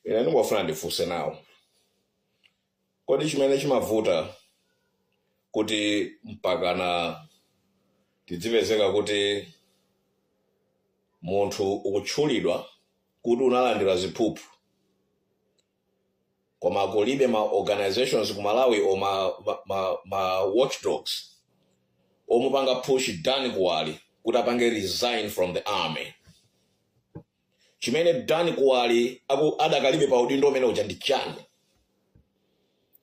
ine ndingofuna ndifunse nawo kodi chimene chimavuta kuti mpakana tidzipezeka kuti munthu ukutchulidwa kuti unalandira ziphuphu koma kulibe ma organizations ku malawi or ma, ma, ma, ma watchdogs omupanga push dan kuwali kuti apange resign from the army chimene dan kuwali aku adakalibe pa udindo umene uja ndi chani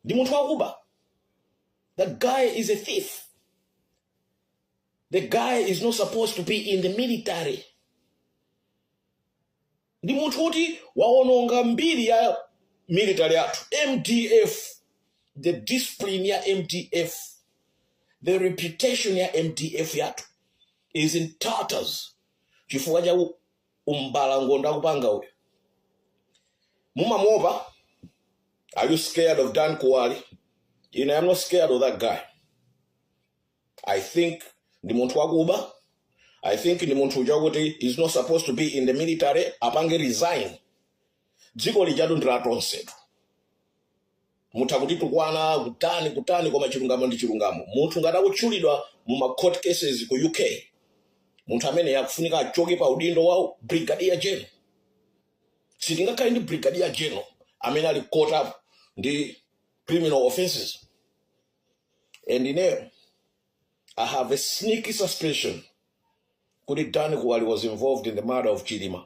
ndi munthu wakuba the guy is a thief the guy is not supposed to be in the military ndi munthu woti waononga mbiri ya military yathu mdf the discipline ya mdf the reputation ya mdf yathu is in tatters chifukwa cha u- umbalangondo ukupanga uyu mumamuopa are you scared of dan kuwali you know, i'm not scared of that guy i think ndi munthu wakuba i think ndi munthu uja kuti is not supposed to be in the military apange resign dziko lijatu ndi la tonsetu mutha kutitukwana kutani kutani koma chilungamo ndi chilungamo munthu ngati akutchulidwa mu ma court cases ku uk munthu amene akufunika achoke pa udindo wa brigadier general sitingakhale ndi brigadier general amene ali caught up ndi criminal offenses and ineyo i have a sneaky suspicion kuti dan kuwali was involved in the murder of chilima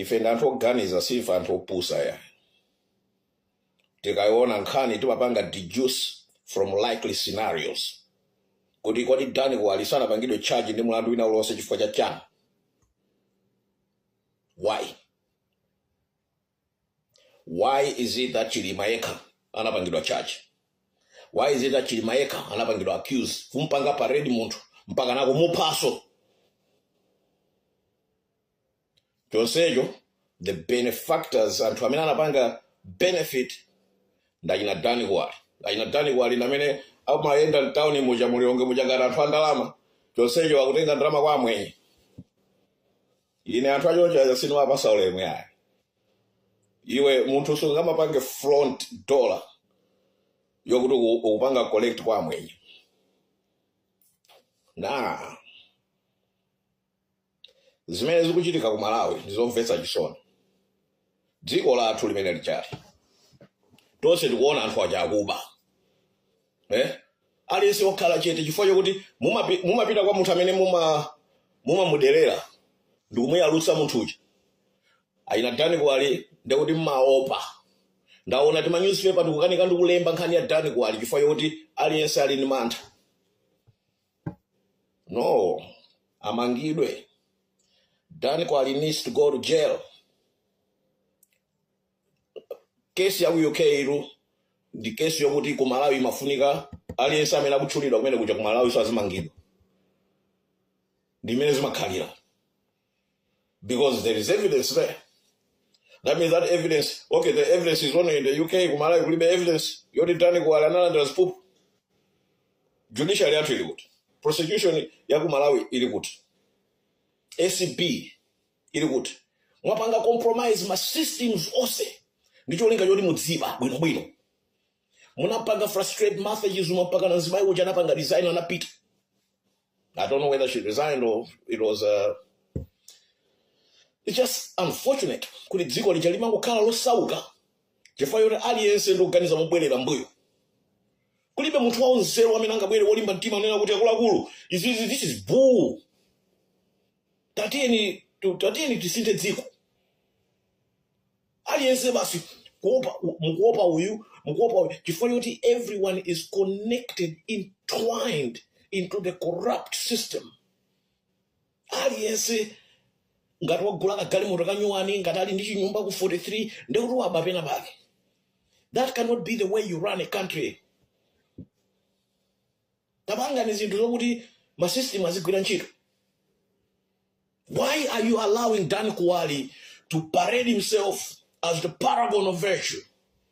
ife ndi anthu oganiza sife anthu opusa yayi tikayiona nkhani timapanga deduce from likely scenarios kuti kodi dani kuwali sanapangidwe charge ndi mulandu wina uliwonse chifukwa cha chani why Why is it that Chilima yekha anapangidwa charge? Why is it that Chilima yekha anapangidwa accuse? Kumpanga parade munthu mpakana kumuphanso. Chonsecho the benefactors anthu amene anapanga benefit ndachina Dani Kuwali. Achina Dani Kuwali ndamene amayenda mtauni muja mu Lilongwe muja ngati anthu andalama. Chonsecho akutenga ndalama kwa amwenye. Ine anthu achoncho aja sindiwapatsa ulemu yayi. Iwe munthu sungamapange front dollar yokuti uku- ukupanga collect kwa amwenye. Na zimene zikuchitika ku Malawi ndi zomvetsa chisoni. dziko lathu limene lijali tonse tikuona anthu aja akuba eh? aliyense okhala chete chifukwa chokuti mumapi- mumapita kwa munthu amene muma mumamuderera ndikumuyalutsa munthu uja achina Dani Kuwali ndikuti mmaopa ndaona ti manyuzipepa ndikukanika ndikulemba nkhani ya Dani Kuwali chifukwa chokuti aliyense ali ndi mantha No, amangidwe. Dan Kuwali needs to go to jail. Kesi ya ku UK ija ndi kesi yokuti ku Malawi imafunika aliyense amene akutchulidwa kumene kuja ku Malawi so azimangidwa. Ndi imene zimakhalira. because there is evidence there. That means that evidence, okay, the evidence is only in the UK, ku Malawi kulibe evidence, yoti Dani Kuwali analandira ziphuphu. Judiciary yathu ili kuti? Prosecution ya ku Malawi ili kuti? ACB ili kuti? Mwapanga compromise ma systems onse. Ndi cholinga choti mudziba bwinobwino. munampanga frustrate Martha Chizuma mpakana mzimayi uja anapanga resign anapita i don't know whether she resigned or it was uh, it's just unfortunate kuti dziko lija limangokhala losauka chifukwa choti aliyense ndikuganiza mobwerera mbuyo kulibe munthu wanzeru amene angabwere wolimba mtima kunena kuti akuluakulu izizi this is bull tatiyeni tu- tatiyeni tisinthe dziko aliyense basi kuopa mukuopa uyu mukuopa uyu chifukwa choti everyone is connected entwined into the corrupt system aliyense ngati wagula kagalimoto kanyuwani ngati ali ndi chinyumba ku 43 ndikuti waba pena pake that cannot be the way you run a country tapangani zinthu zokuti masystem azigwira ntchito Why are you allowing Dan Kuwali to parade himself as the paragon of virtue?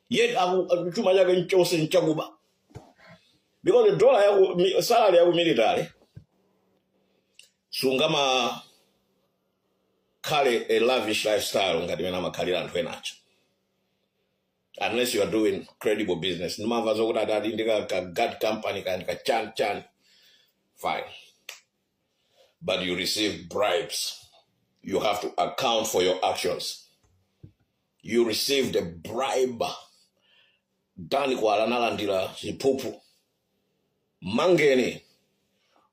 Yet aku- aku- chuma chake nchonse nchakuba. Because the dollar yaku, mi- salary yaku military sungamakhale a lavish lifestyle ngati mmene amakhalira anthu enacho. Unless you are doing credible business. Ndimamva zokuti adati ndi kaka guard company kandi ka chani chani. Fine. but you receive bribes. You have to account for your actions. You received a bribe. Dani Kuwali analandira chiphuphu. Mangeni.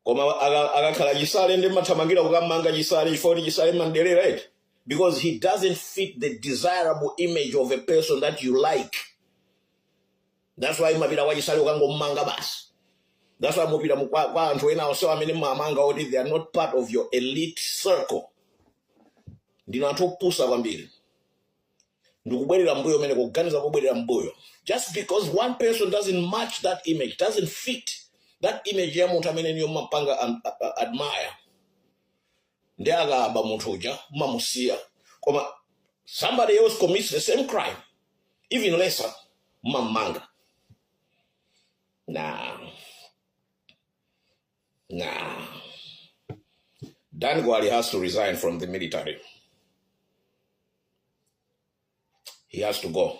Koma aka- akakhala Chisale nde mmathamangira kukamanga Chisale chifukwa choti Chisale mmamderera eti. Because he doesn't fit the desirable image of a person that you like. that's why mapita kwa Chisale ukangomumanga basi that's why mapita mu- kwa, kwa anthu ena onsewo amene mamanga oti they are not part of your elite circle ndinu anthu opusa kwambiri ndikubwerera mbuyo kumene kuganiza kubwerera mbuyo just because one person doesn't match that image doesn't fit that image ya munthu amene inuyo mapanga um, uh, uh, admire nde akaba munthu uja mumamusiya koma somebody else commits the same crime even lesser mumamumanga nah nah dan gwali has to resign from the military he has to go